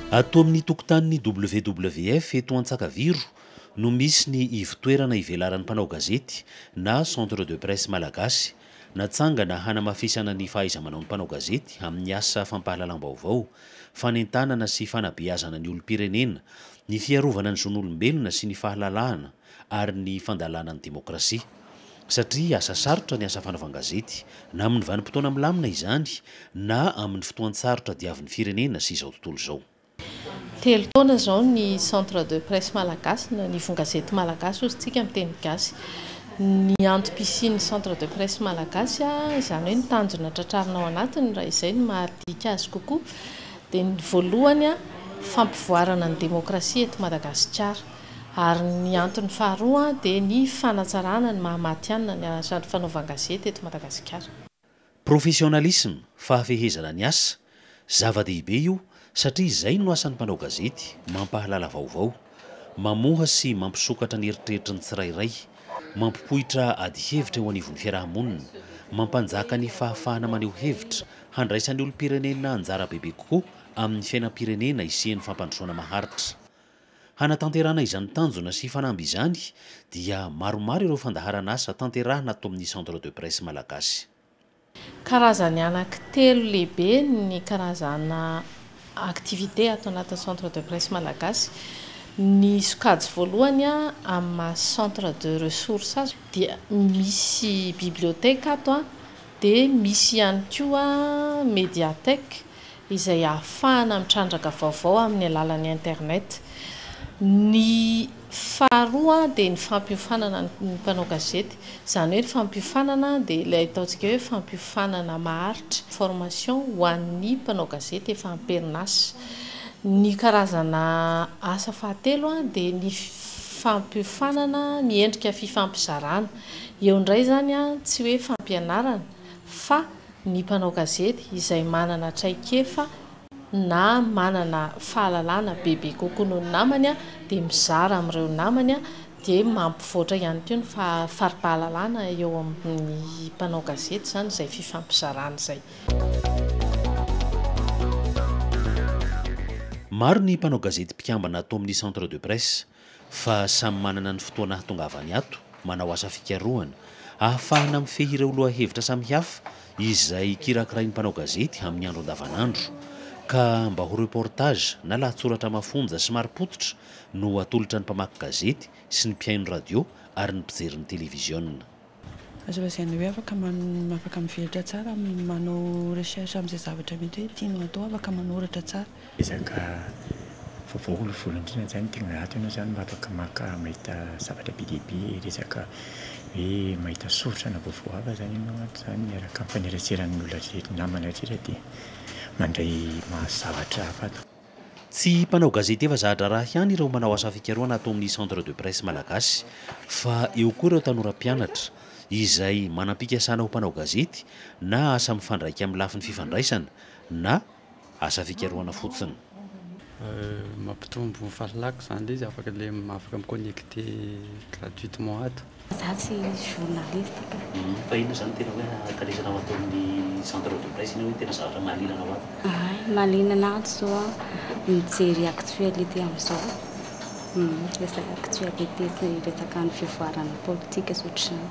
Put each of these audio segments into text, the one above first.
Ato amin'ny tokotanin'ny WWF eto Antsakaviro no misy ny ivotoerana ivelaran'ny mpanao gazety na Centre de Presse Malagasy, natsangana hanamafisana ny fahaiza-manaon'ny mpanao gazety amin'ny asa fampahalalam-baovao, fanentanana sy fanabeazana ny olom-pirenena, ny fiarovana ny zon'olombelona sy ny fahalalahana, ary ny fandalana ny demokrasia. Satria asa sarotra ny asa fanaovan-gazety, na amin'ny vanim-potoana milamina izany, na amin'ny fotoan-tsarotra diavin'ny firenena sy izao tontolo izao. Telo taona izao ny Centre de Presse Malagasy, na ny Ivon-gazety Malagasy hozy tsika amin'ny teny gasy. Ny antom-pisian'ny Centre de Presse Malagasy, izany hoe ny tanjona tratrarina ao anatiny, raha izay no mahadinika azy kokoa, dia ny voalohany, fampivoarana ny demokrasia eto Madagasikara. Ary ny antony faharoa dia ny fanatsarana ny maha matihanina ny asan'ny fanaovan-gazety eto Madagasikara. Professionnalisme, fahafehezana ny asa, zava-dehibe io satria izay no asan'ny mpanao gazety, mampahalala vaovao, mamoha sy mampisokatra ny eritreritry ny tsirairay, mampipoitra ady hevitra eo anivon'ny fiaraha-monina, mampanjaka ny fahafahana maneho hevitra, handraisan'ny olom-pirenena anjara bebe kokoa amin'ny fiainam-pirenena hisian'ny fampandrosoana maharitra. Hanatanterahana izany tanjona sy fanamby izany dia maromaro ireo fandaharan'asa tanterahina ato amin'ny Centre de Presse Malagasy. Karazany anaky telo lehibe ny karazana activités ato anatin'ny Centre de Presse Malagasy. Ny sokajy voalohany amin'ny maha centre de ressources azy dia misy bibliothèque ato dia misy ihany koa médiathèque. izay ahafahana mitrandraka vaovao amin'ny alalan'ny internet. Ny faharoa dia ny fampiofanana ny mpanao gazety, izany hoe ny fampiofanana dia ilay ataontsika hoe fampiofanana maharitra, formation, ho an'ny mpanao gazety efa am-perinasa. Ny karazana asa fahatelo dia ny fampiofanana ny endrika fifampizarana. Eo indray izany tsy hoe fampianarana fa ny mpanao gazety izay manana traikefa na manana fahalalana bebe kokoa noho ny namany dia mizara amin'ireo namany dia mampivoatra ihany koa ny fari-pahalalana eo amin'ny mpanao gazety izany izay fifampizarana izay. Maro ny mpanao gazety mpikambana ato amin'ny Centre de Presse. fa samy manana ny fotoana hahatongavany ato, manao asa fikarohana, ahafahana mifehy ireo lohahevitra samihafa izay kirakirain'ny mpanao gazety amin'ny andro andavanandro, ka mba ho reportage na lahatsoratra mafonja sy marim-pototra no atolotra ny mpamaky gazety sy ny mpihaino radio ary ny mpijery ny televiziona. Azo lazaina hoe afaka man afaka mivelatra tsara amin'ny manao recherche amin'izay zavatra mety hoe tianao hatao, afaka manoratra tsara. Ezaka vaovao aloha voalohany indrindra zany tegna ato ianao zany mba afaka maka mahita zavatra be dia be resaka hoe mahita soritra na vaovao hafa zany ianao ato zany miaraka amin'ny faneratseran'ny olona rehetra namana rehetra dia mandray mahazo zavatra hafa ato. Tsy mpanao gazety efa za-draharaha ihany ireo manao asa fikarohana ato amin'ny Centre de Presse Malagasy fa eo koa ireo tanora mpianatra izay manam-pikasana ho mpanao gazety na asa mifandraika amin'ny lafiny fifandraisana na asa fikarohana fotsiny. Mampitombo fahalalako izany ilay izy afaka ilay afaka mi-connecter gratuitement ato. Za tsy journaliste ka. Fa inona izany tena hoe hakalezana ho ataon'ny centre de presse iny hoe tena zavatra mahaliana anao avy? Hay, mahaliana anah zao mijery actualité amizao, resaka actualité sy resaka ny fivoaran'ny politika sy ohatr'izany.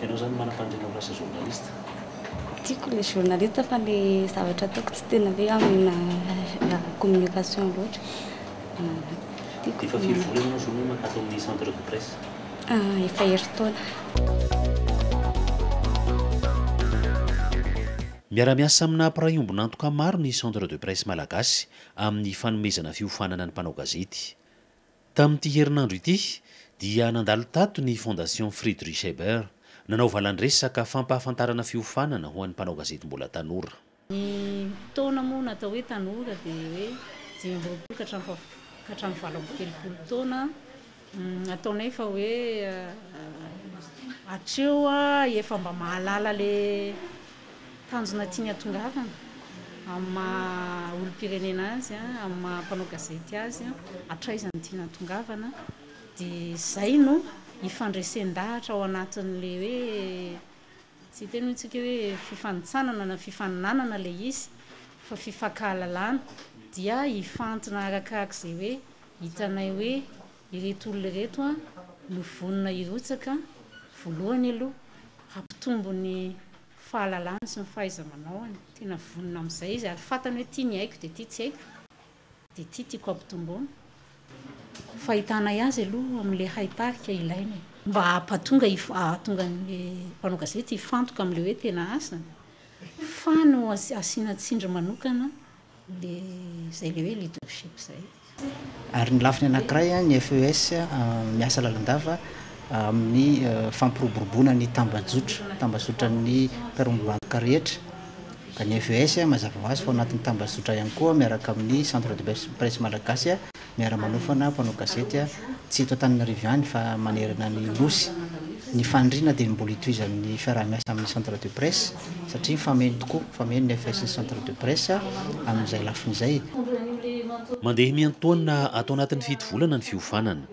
Ianao zany manam-pandriana ho lasa journaliste? Tiako le journaliste fa le zavatra ataoko tsy tena hoe amina communication loatra Efa firy volana ianao zao no ato amin'ny centre de presse? Efa herintaona. Miara-miasa amina mpiray ombon'antoka maro ny Centre de Presse Malagasy amin'ny fanomezana fiofanana ny mpanao gazety. Tamin'ity herinandro ity dia nandalo tato ny Fondation Friedrich Ebert nanao valandresaka fampahafantarana fiofanana ho an'ny mpanao gazety mbola tanora. Ny taona moa natao hoe tanora dia hoe dimy amby roapolo ka hatramin'ny fahafito ka hatramin'ny valo amby telopolo taona an, ataonay fa hoe hatreo efa mba mahalala le tanjona tiany hatongavana amin'ny maha olom-pirenena azy an, amin'ny maha mpanao gazety azy an, hatraiza no tiany hatongavana dia izay no ifandresen-dahatra ao anatin'ilay hoe Tsy hiteny hoy isika hoe fifanintsanana na fifaninanana ilay izy fa fifankahalalana dia hifantina arakaraky izay hoe hitanay hoe ireto olona ireto an no vonona hirotsaka voalohany aloha hampitombo ny fahalalany sy ny fahaiza-manaony, tena vonona amin'izay izy ary fantany hoe ity ny haiko dia ity tsy haiko. Dia ity tiako ampitomboina, fahitanay azy aloha amin'ilay haitarika ilaina e. Mba hampatonga hahatonga an'ilay mpanao gazety hifantoka amin'ilay hoe tena asany fa no asiana tsindry manokana ilay izay ilay hoe leadership izay. Ary ny lafiny anankiray, ny FES miasa lalandava amin'ny fampiroboroboana ny tambajotra, tambazotran'ny mpiara-mibaboka rehetra. Ka ny FES, mazava ho azy fa ao anatin'ny tambazotra ihany koa, miaraka amin'ny Centre de Presse Malagasy, miara-manofana mpanao gazety, tsy eto Antananarivo ihany fa manerana ny Nosy. Ny faniriana dia ny mbola hitohizan'ny fiaraha-miasa amin'ny Centre de Presse, satria mifameno tokoa, mifameno ny FES sy ny Centre de Presse amin'izay lafiny izay. Mandeha miantoana ato anatin'ny fito volana ny fiofanana,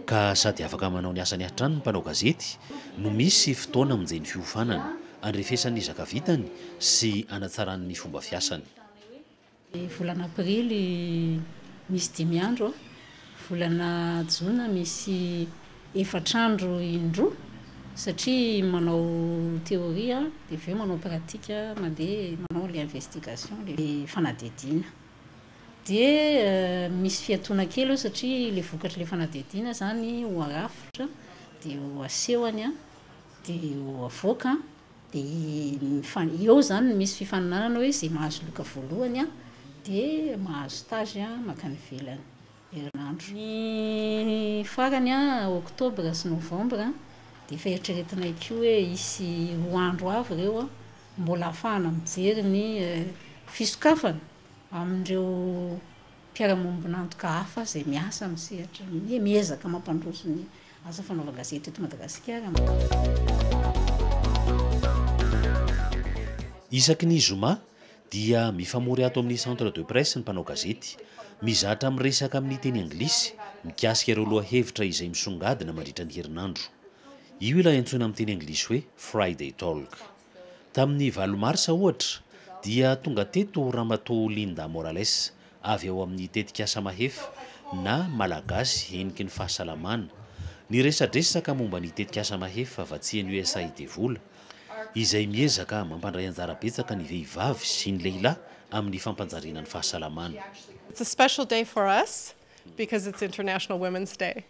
ka sady afaka manao ny asany hatrany ny mpanao gazety, no misy fotoana amonjeny fiofanana. Andrefesany ny zaka vitany sy hanatsarany ny fomba fiasany. Ny volana aprily misy dimy andro, volana jona misy efatra andro indroa satria manao theorie dia avy eo manao pratique mandeha manao ilay investigation ilay fanadihadiana dia misy fiatoana kely eo satria ilay vokatr'ilay fanadihadiana izany ho arafitra dia ho asehony Dia ho avoaka dia eo izany no misy fifaninanana hoe izay mahazo loka voalohany dia mahazo stage mankany ivelany herinandro. Ny farany oktobra sy novambra dia efa eritreretinay koa hoe hisy roa andro avy ireo mbola hahafahana mijery ny fisokafana amin'ireo. mpiara-miombon'antoka hafa izay miasa amin'ny sehatra ny miezaka mampandroso ny asa fanaovan-gazety eto Madagasikara. Isaky ny zoma dia mifamory ato amin'ny Centre de Presse ny mpanao gazety. Mizatra miresaka amin'ny teny anglisy mikasika ireo lohahevitra izay misongadina mandritra ny herinandro. Io ilay antsoina amin'ny teny anglisy hoe Friday Talk. Tamin'ny valo marsa, ohatra, dia tonga teto Ramatoa Linda Morales, avy ao amin'ny tetikasa Mahefa, na Malagasy heniky ny fahasalamana. Niresadresaka momba ny tetikasa Mahefa vatsian'ny USAID vola, izay miezaka mampandray anjara betsaka ny vehivavy sy ny lehilahy amin'ny fampanjariana ny fahasalamana. It's a special day for us because it's International Women's Day.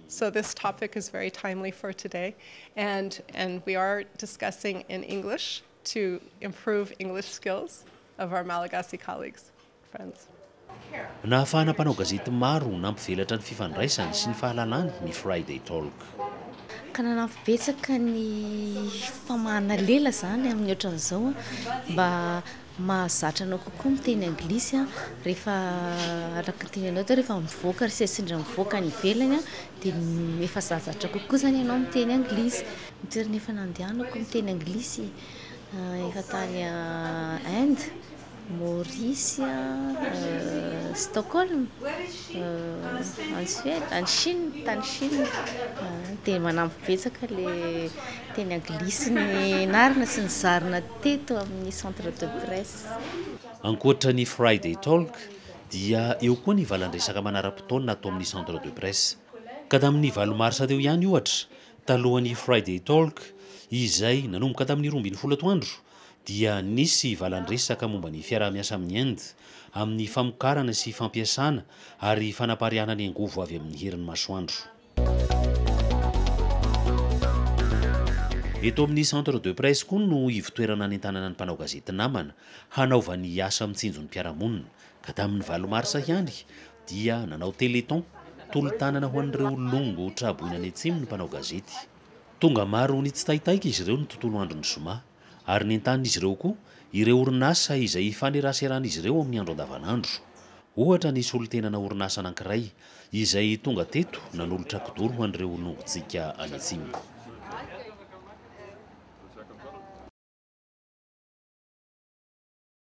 So this topic is very timely for today and and we are discussing in English to improve English skills of our Malagasy colleagues, friends. Nahafahana mpanao gazety maro nampivelatra ny fifandraisany sy ny fahalalany ny Friday Talk. Ka nanampy betsaka ny famahana lela izany amin'ny ohatran'izao mba Mahazatra anao kokoa miteny anglisy rehefa araka ny tenenao teo rehefa mivoaka ary sendra mivoaka any ivelany dia efa zazatra kokoa izany ianao miteny anglisy. Ny toerana efa nandehanako niteny anglisy efa tany Inde, Maorisy, Stockholm, any Suède, any Chine, tany Chine. Dia manampy betsaka ilay teny anglisy nianarana sy nizarina teto amin'ny Centre de Presse. Ankoatra ny Friday Talk dia eo koa ny valan-dresaka manara-potoana ato amin'ny Centre de Presse. Ka tamin'ny valo marsa teo ihany ohatra, talohan'ny Friday Talk izay nanomboka tamin'ny roa ambin'ny folo atoandro dia nisy valan-dresaka momba ny fiaraha-miasa amin'ny Inde amin'ny famokarana sy fampiasana ary fanapariahana ny angovo avy amin'ny herin'ny masoandro. Eto amin'ny Centre de Presse koa no ivotoerana hanentanana ny mpanao gazety namana hanaovany asa mitsinjo ny mpiara-monina, ka tamin'ny valo marsa ihany dia nanao téléthon tolo-tanana ho an'ireo longo tra-boina any atsimo ny mpanao gazety. Tonga maro nitsitaitaika izy ireo ny tontolo andron'ny zoma. ary nentanin'izy ireo koa ireo orinasa izay ifaneraseran'izy ireo amin'ny andro andavanandro. Ohatra ny solontenana orinasa anankiray izay tonga teto nanolotra kidoro ho an'ireo nongontsika any atsimo.